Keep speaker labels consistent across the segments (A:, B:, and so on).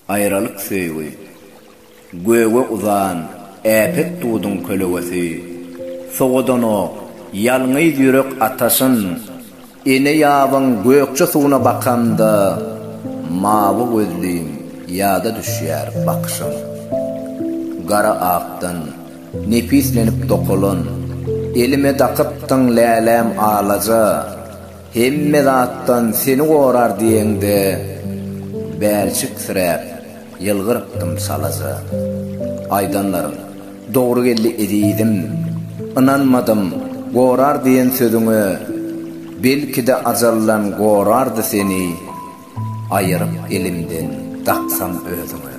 A: Aýralyk söýgi. Göge uzan äpet duduň kölegesi, Sowadanok, ýalňyz ýürek ataşyn, Ene ýabyň gökje suwuna bakanda, Mawy gözlüň ýada düşýär bakyşyň. Gara akdan nepislenip dokalan, Elime dakypdyň läläm alaja, Hemme zatdan seni gorar diýeňde, bälçiksräp, ýylgyrypdym çalaja. Aýdanlaryň dogry geldi ezizim, ynanmadym gorar diýen sözüňe, belki-de ajaldan gorardy seni. Aýyryp elimden daksam özüňe.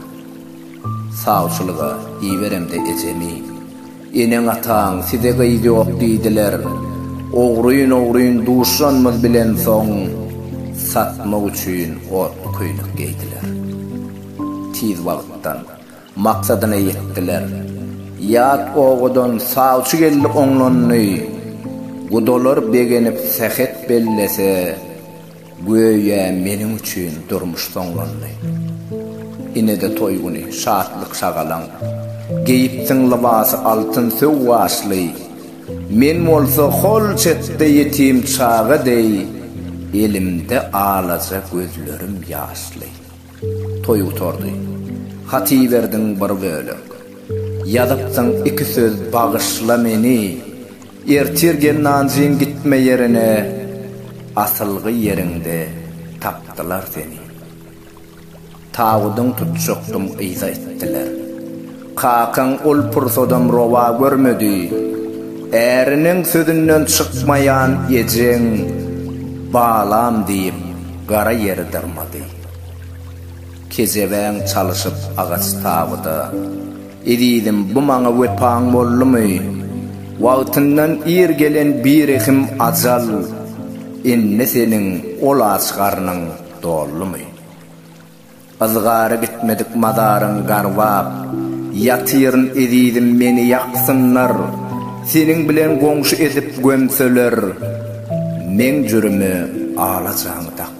A: Sawçylyga iberemde ejemi. Eneň-ataň size gyz ýok diýdiler. Ogryn-ogryn duşanymyz bilen soň, satmak üçin otly köýnek geýdiler. Tiz wagtdan maksadyna ýetdiler. Ýat obadan sawçy geldi oňlandy. Gudalar begenip sähet bellese, Göýä meniň üçin durmuş soňlandy. Ine-de toý güni, şatlyk-şagalaň. Geýipsiň lybasy altyn söw gaşly. Men bolsa hol çetde ýetim çaga deý, elimde alaja gözlerim ýaşly. Toý gutardy. Hat iberdiň bir bölek. Ýazypsyň iki söz Bagyşla meni. Ertir gel Nanjyn gitme ýerine Asylgy ýeriňde tapdylar seni. Tabydyň tutjakdym yza itdiler. Kakaň ol pursadam rowa görmedi. Äriniň sözünden çykmaýan ejeň Balam diýip gara ýeri dyrmady. Kejebäň çalyşyp agaç tabyda. Ezizim, bu maňa wepaň boldumy? Wagtyndan ir gelen birehim ajal, Indi seniň ol aç garnyň doldumy? Yzgary gitmedik mazaryň garbap, Ýatyryn ezizim, meni ýaksynlar, Seniň bilen goňşy edip gömseler, Meň jürimi alajaň dakdylar.